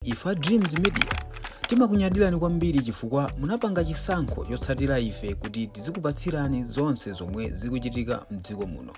Ife a Dreams Media timakunyadirani kwambiri chifukwa munapanga chisankho chotsatira ife kuti tizikupatsirani zonse zomwe zikuchitika mdziko muno.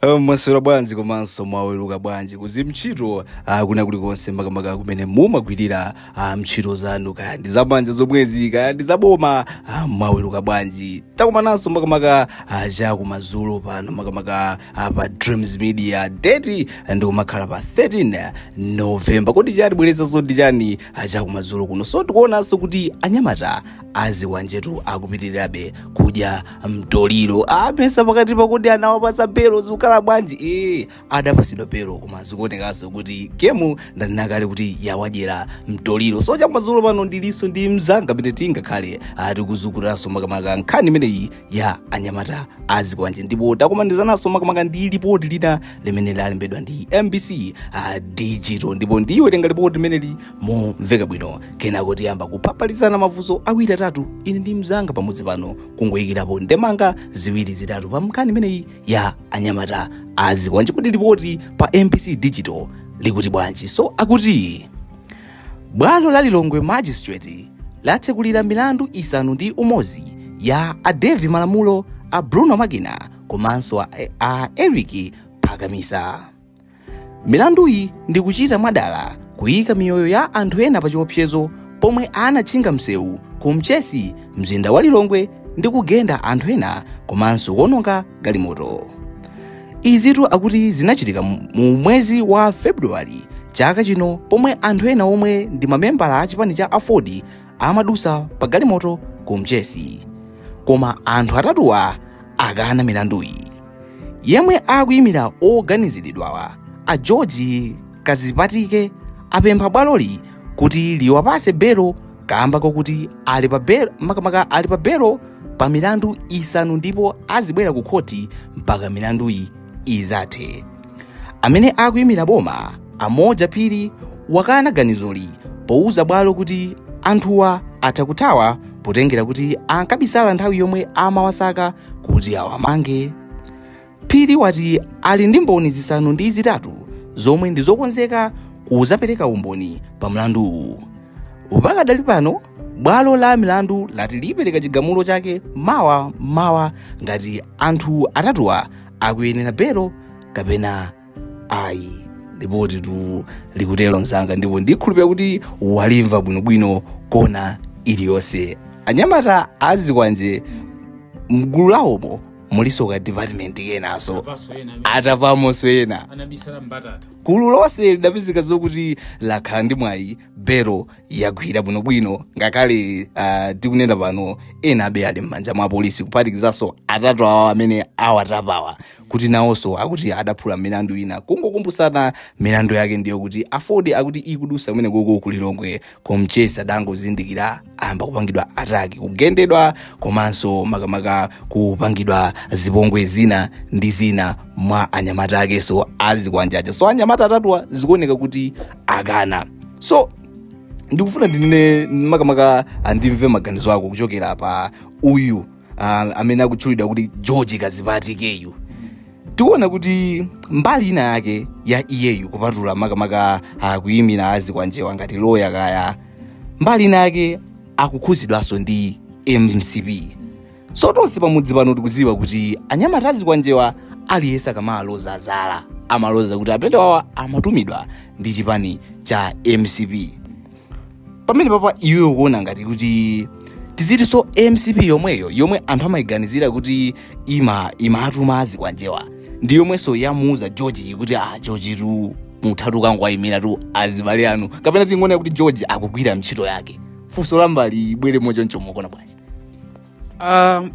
Eh, mwaswera bwanji komanso mwaweruka bwanji kuzi mtchito ah, kwina kulikonse makamaka kumene mumagwirira ah, mtchito zanu kaya ndi zamanja zomwezi kaya ndi zaboma ah, mwaweruka bwanji takumananso makamaka ah, chakumadzulo pano makamaka pa dreams media date ndikumakhala pa 13 novemba kodi chatibweretsanso ndi chani chakumadzulo kuno so tikuonanso kuti anyamata azikwanjetu akupitirirabe kudya mtoliro amesa pakatipa kuti anawapasa belo zikukhala bwanji ee adapasidwa belo koma zikuonekanso kuti gemu ndayinakale kuti yawadyera mtoliro so chakumadzulo pano ndilinso ndi mzanga pamene tingakhale tikuzukutanso makamaka nkhani imeneyi ya anyamata azikwanje ndipo takumanizananso makamaka ndi lipoti lina limene lalembedwa ndi mbc uh, digital ndipo ndiwerenga lipoti limeneli momveka bwino kenako tiyamba kuphaphalitsana mafunso awiri atatu ine ndi mzanga pamodzi pano kungoyikirapo ndemanga ziwiri zitatu pa nkhani imeneyi ya anyamata azikwanje kodi lipoti pa mbc digital likuti bwanji so akuti bwalo la lilongwe magistrate latsekulira milandu isanu ndi umodzi ya a devi malamulo a bruno magina komanso a, a eric phakamisa milanduyi ndi kuchita mwadala kuyika miyoyo ya anthu ena pa chiopsezo pomwe anatchinga msewu ku mchesi mzinda wa lilongwe ndi kugenda anthu ena komanso kuononga galimoto izitu akuti zinachitika mu mu mwezi wa february chaka chino pomwe anthu ena omwe ndi mamembala a chipani cha aford amadusa pa galimoto ku mchesi koma anthu atatuwa akana milanduyi yemwe akuyimira oganiziridwawa a george kazipatike apempha bwaloli kuti liwapase belo kamba kokuti ali pa belo makamaka ali pa belo pa milandu isanu ndipo azibwera ku khoti mpaka milanduyi izathe amene akuyimira boma a moja phiri wakana ganizoli pouza bwalo kuti anthuwa atha kuthawa potengera kuti ankabisala nthawi yomwe amawasaka kuti awamange phiri wati ali ndi mboni zisanu ndi zitatu zomwe ndi zokonzeka kuzapereka umboni pa mlanduwu pakadali pano bwalo la milandu lati lipereka chigamulo chake mawa mawa ngati anthu atatuwa akuyenera belo kapena ayi lipotitu likutero mzanga ndipo ndikhulupira kuti walimva bwinobwino kona iliyonse anyamata azikwanje mgulu lawomo muliso ka department kenaso Abaso yena amene atavamonso ena anabisala mbatata. gulu lonse lidapezeka zokuti lakhala ndi mwayi belo yagwira bwinobwino ngakhale uh, tikunena pano enabe ali m'manja mwa polisi kuphatikizanso atatu awa amene awatapawa kuti nawonso akuti adaphula milandu ina kungokumbutsana milandu yake ndiyo kuti afordi akuti ikudusa kumene koko ku Lilongwe ku Mchesi adangozindikira ayamba kupangidwa ataki kugendedwa komanso makamaka kupangidwa zipongwe zina ndi zina mwa anyamata akenso azikwanje aja so anyamata atatuwa zikuoneka kuti akana so ndikufuna ndinene makamaka andimve maganizo ako kuchokera pa uyu uh, amene akutchulidwa kuti george kadzipatikeyu tikuona kuti mbali ina yake ya iyeyu kupatula makamaka uh, kuyimira azikwanjewa ngati loya kaya mbali ina yake akukhudzidwanso ndi mcp so tonse pamudzi pano tikudziwa kuti anyamata azikwanjewa aliyense akamaloza zala amaloza kuti a mbendewawa amatumidwa ndi chipani cha mcp pamenepapa iwe ukuona ngati kuti tizitinso mcp yomweyo yomwe anthu amayiganizira kuti ima imatuma azikwanjewa ndi yomwenso yamuuza george kuti ah george tu muthatu kangowayimiratu azibale anu kapena tingoona kuti george akugwira ntchito yake funso lambali ibwere mochoncho mukuona bwanji Uh,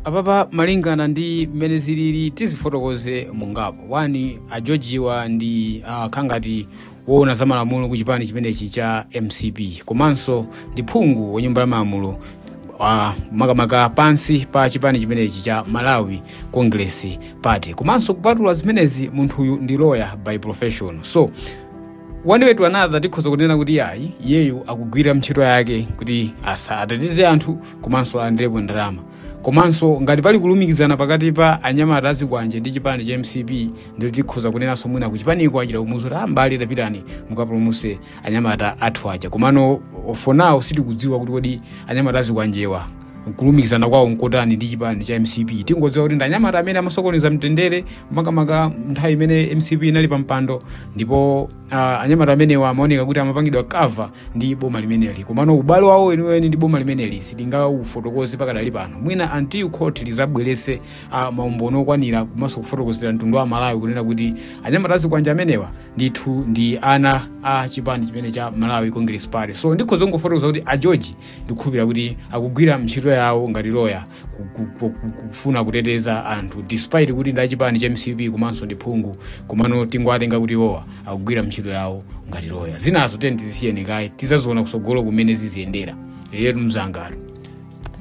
apapa malingana ndi mmene zilili tizifotokoze mungapo one a georgewa ndi uh, kaya ngati woona za malamulo ku chipani chimenechi cha mcp komanso ndi phungu wa nyumba ya malamulo uh, makamaka pansi pa chipani chimenechi cha malawi congress party komanso kupatula zimenezi munthuyu ndi lawyer by profession so one way to another tikhoza kunena kuti ayi iyeyu akugwira ntchito yake kuti asa ateteze anthu komanso alandirepo ndalama komanso ngati pali kulumikizana pakati pa anyamata azikwanje ndi chipani cha mcp ndiye tikhoza kunenanso mwina ku chipaniko achita kumuuza kuti ambali tapitani mukapulumuse anyamata athu aja komano for now sitikudziwa kuti kodi anyamata azikwanjewa kulumikizana kwawo nkotani ndi chipani cha mcp tingodziwa kuti ndi anyamata amene amasokoneza mtendere makamaka nthawi imene mcp inali pampando ndipo Uh, anyamata amenewa amaoneka kuti amapangidwa cover ndi boma limeneli komano ubale wawo weniweni ndi boma limeneli sitingaufotokoze pakadali pano mwina until court lizabweretse uh, maumboni okwanira komanso kufotokozera mtundu wa amalawi kunena kuti anyamata azikwanje amenewa ndithu ndi ana a chipani chimene cha malawi congress party so ndikhoza kungofotokoza kuti a george ndikukhulupirira kuti akugwira ntchito yawo ngati loya ku- ku- ku- ku- kufuna kuteteza anthu despite kuti ndi achipani cha mcp komanso ndi phungu komano tingowatenga kuti iwowa akugwira ntchito yawo ngati loya zinazo tiyeni tizisiyeni kaye tizaziona kusogolo kumene ziziyendera yetu mzangatu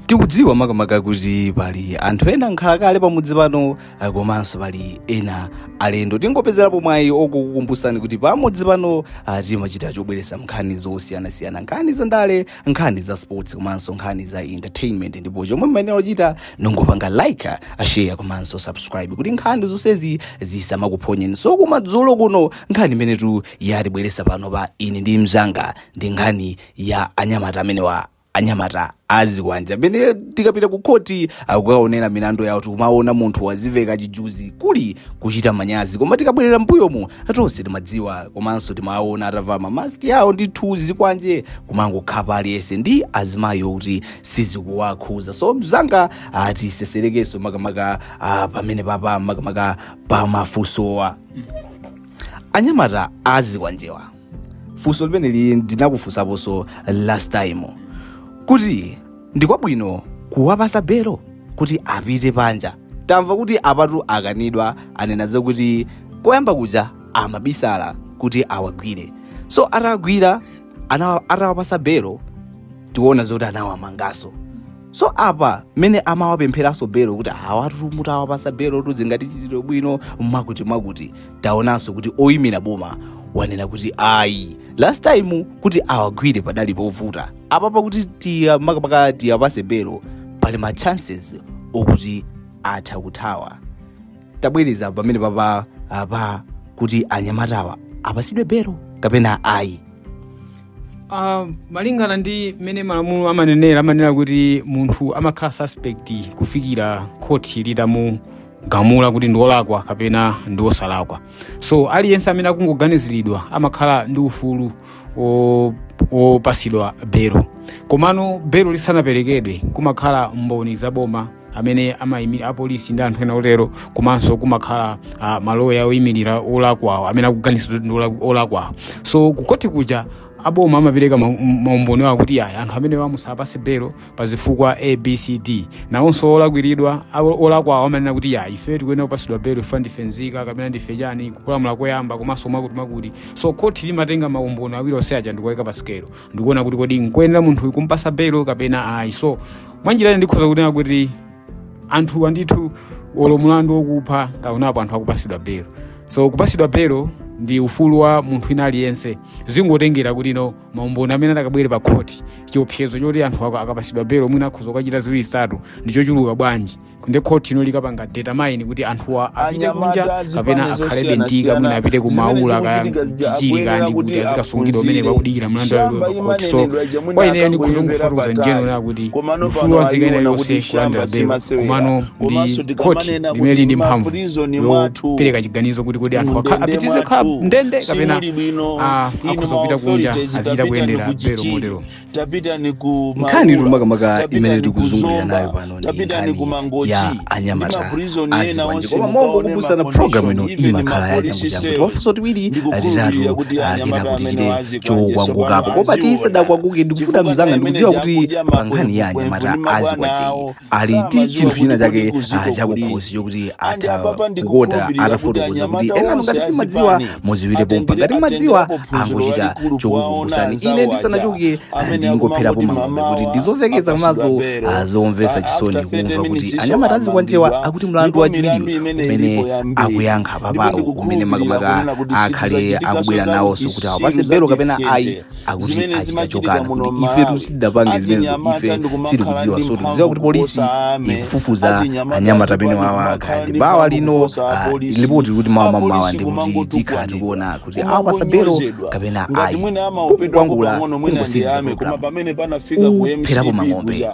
tikudziwa makamaka kuti pali anthu ena nkhalakale pamudzi pano Ah, komanso pali ena alendo tingopezerapo mwayi okukukumbusani kuti pamudzi pano ah, timachita chobweresa nkhani zosiyanasiyana nkhani za ndale nkhani za sports komanso nkhani za entertainment ndipo chomwe muyenera kuchita nongopanga like ah, share komanso subscribe kuti nkhani zonsezi zisamakuphonyeni so kumadzulo kuno nkhani imenetu yatibweresa pano pa ine ndi mzanga ndi nkhani ya anyamata amenewa anyamata azikwanje amene tikapita ku khoti kukaonera milandu yawo tikumaona munthu waziveka chijuzi kuli kuchita manyazi koma tikabwerera mbuyomu tonse timadziwa komanso timaona atavala mamaski awo ndi tizikwanje kumangokhapa aliyense ndi azimayi okuti sizikuwakhuza so mzanga tiserereko makamaka ah, pamene papa makamaka pamafusowa anyamata azikwanjewa funso limeneli ndinakufunsaponso last time kuti ndikwabwino kuwapasa belo kuti apite panja tamva kuti apatu akanidwa anena zokuti koyamba kuja amabisala kuti awagwire so atagwira ana- atawapasa belo tikuona zoti anawamangaso so apa mmene amawapempheranso belo kuti awatu mutawapasa belo muzingatichitire bwino mwakuti mwakuti taonanso kuti oyimira boma wanena kuti ayi last time kuti awagwire padali povuta apapa kuti tiya makamaka tiyapase belo pali ma chances okuti atha kuthawa tabwereza pamene papa apa kuti anyamatawa apasidwe belo kapena ayi Uh, malingana ndi mmene malamulo amanenera amanena kuti munthu amakhala suspect kufikira khoti litamugamula kuti ndi wolakwa kapena ndi wosalakwa so aliyense amene akungoganiziridwa amakhala ndi ufulu wo- wopasidwa belo komano belo lisanaperekedwe kumakhala mboni za boma amene amayimira apolisi ndi anthu ena otero komanso kumakhala uh, maloya oyimirira olakwawo amene akuganiziridwa ndi ola- olakwawo so kukoti kuja aboma amapereka ma- maumboni awo kuti ayi anthu amenewa musapase belo pa zifukwa abcd nawonso olakwiridwa awo- olakwawo amanena kuti ayi ife tikuyenera kupasidwa belo ife ndife nzika kapena ndife chani kupalamula koyamba komanso mwakuti mwakuti so khoti limatenga maumboni awiri onse aja ndikuwayika pa sikelo ndikuona kuti kodi nkuyenera munthu kumpasa belo kapena ayi so mwanjira ina ndikhoza kunena kuti anthu andithu olo mulandu wokupha taonapo anthu akupasidwa belo so kupasidwa belo ndi ufulu wa munthu wina aliyense zingotengera kuti no maumboni amene atakabwere pa khoti chiopsezo choti anthu akapasidwa belo mwina akhoza kukachita ziwiri zitatu ndi chochuluka bwanji ndi khoti ino likapanga determine kuti anthuwa apite kunja kapena akhalebe ndika mwina apite ku maula kaya chichiri kaya ndi kuti azikasungidwa kumene pakudikira mlandu wawo pa khoti so kwa ineyo ndikufotokoza njeno la kuti ufulu wa nzika ina iliyonse kulandira belo komano ndi khoti limene lili ndi mphamvu yopereka chiganizo kuti kodi anthu akha- apitirize khala ndende kapena ah, akhoza kupita kunja azichita kuyendera belo motero tapitani ku nkhani Maula, tumakamaka tapitani imene ku tikuzungulira Zomba, nayo pano ndi tapitani nkhani ku Mangochi, ya ndi anyamata maprizoni ena azikwanje onse koma mongo mukaone kubusa na ma programu ino condition, even imakhala ya mapolice changu changu cells. timafunso tiwiri Ndikukhulupirira atitatu kuti akena anyamata kuti amene chite wazikwanje chokwangukapo tsopano koma aziona. tisadakwanguke ndikufuta Chifukwa mzanga nthawi ndikudziwa imeneyi kuti akudya pa nkhani ya makwemvuni, anyamata mabwana azikwanje awo, ali ndi Samadziwa chinthu kuti china kodi chake kuziko ah, chakukhosi kulizi. chokuti Andi atha apapa kukota ndikukhulupirira kuti atafotokoza kuti anyamata enanu ngati onse simadziwa azipani muziwire pompa ngati atengere- mmadziwa atengerapo phunziro angochita lalikulu kwa chokukumbusani onanza ine waja. ndisanachoke ah, Amene ndingopherapo akumangoti mang'ombe mamawa kuti ndizozekeza apasula mazo belo. ah, zomvetsa Ah, chisoni after 30 kumva kuti minutes iso anyamata azikwanjewa amangidwa. akuti mlandu Ndipo wachiwiriyo milandu imene umene ilipo yambiri. akuyankha Ndipo papawo ndikukhulupirira umene makamaka kunena kuti akhale sikudzachitikaso akubwera za nawonso kuti kuti awapase belo kapena ayi simudzatikekete. akuti Zimene achita zimachitika chokana muno kuti ife m'Malawi. sitidapange zimenezo Achinyamata ife ndikumakhala sitikudziwa ndi so tikudziwa mphamvu kuti polisi kuposa ame. ikufufuza Achinyamata anyamata amene ndikumakhala wawa ndi kandi bawa mphamvu lino kuposa ah, apolisi. lipoti kuti mawa mamawa Apolisi ndi kuti kumangotukwanidwa. tikhala tikuona kuti awapasa belo Kumangonyozedwa. kapena Ngati ayi mwina amaopedwa kukwangula pang'ono mwina ndi ame, koma pamene panafika ku kupherapo MCP mang'ombe kuja.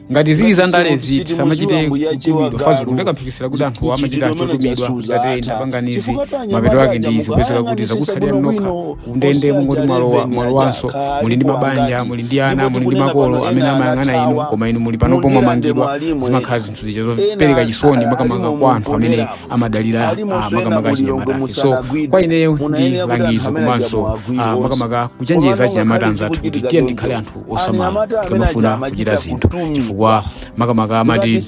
ngati zili za ndalezi tisamachite kutumidwa fa zikumveka mphekesera kuti anthu amachita chotumidwa ngati ndapanganizi mapeto ake ndi izi kupezeka kuti zakutsalira nokha kundende mungoti mwalowa mwalowanso muli ndi mabanja muli ndi ana muli ndi makolo amene amayang'ana inu koma inu muli panopo mwamangidwa zimakhala zinthu zija zopereka chisoni makamaka kwa anthu amene amadalira ah, makamaka achinyamatafe so kwa ineyo ndi langizo komanso ah, makamaka kuchenjeza achinyamata anzathu kuti tiyeni tikhale anthu osamala tikamafuna kuchita zinthu chifukwa makamaka amati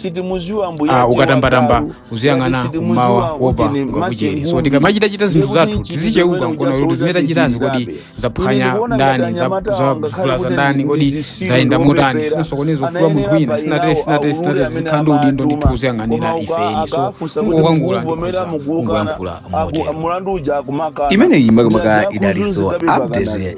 ah, ukatambatamba uziyang'ana kummawa kuopa kungakuchere so tikamachitachita zinthu zathu tizicheuka nkuona kuti zimene tachitazi kodi zaphwanya ndani za- za- zavulaza ndani kodi zayenda motani sinasokoneza ufulu wa munthu wina sinatere sinatere sinatere zikhala ndi udindo ndithu woziyang'anira ife eni so kungokwangula ndikhoza kungoyankhula motero mulandu uja kumakana imeneyi makamaka idaliso update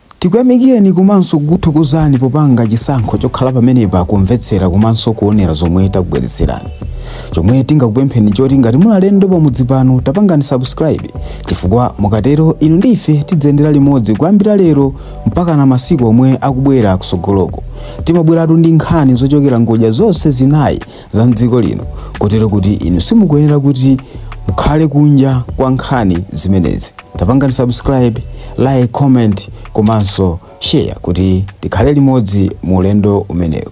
Tikuyamikireni komanso kukuthokozani popanga chisankho chokhala pamenepa kumvetsera komanso kuonera zomwe takubweretserani. Chomwe tingakupempheni nchoti ngati muli alendo pamudzi pano tapangani subscribe chifukwa mukatero inu ndi ife tidziyendera limodzi kuyambira lero mpakana masiku omwe akubwera kutsogoloku. Timabweratu ndi nkhani zochokera ngodya zonse zinayi za mdziko lino kotero kuti inu simukuyenera kuti mukhale kunja kwa nkhani zimenezi tapangani subscribe like comment komanso share kuti tikhale limodzi mu ulendo umenewu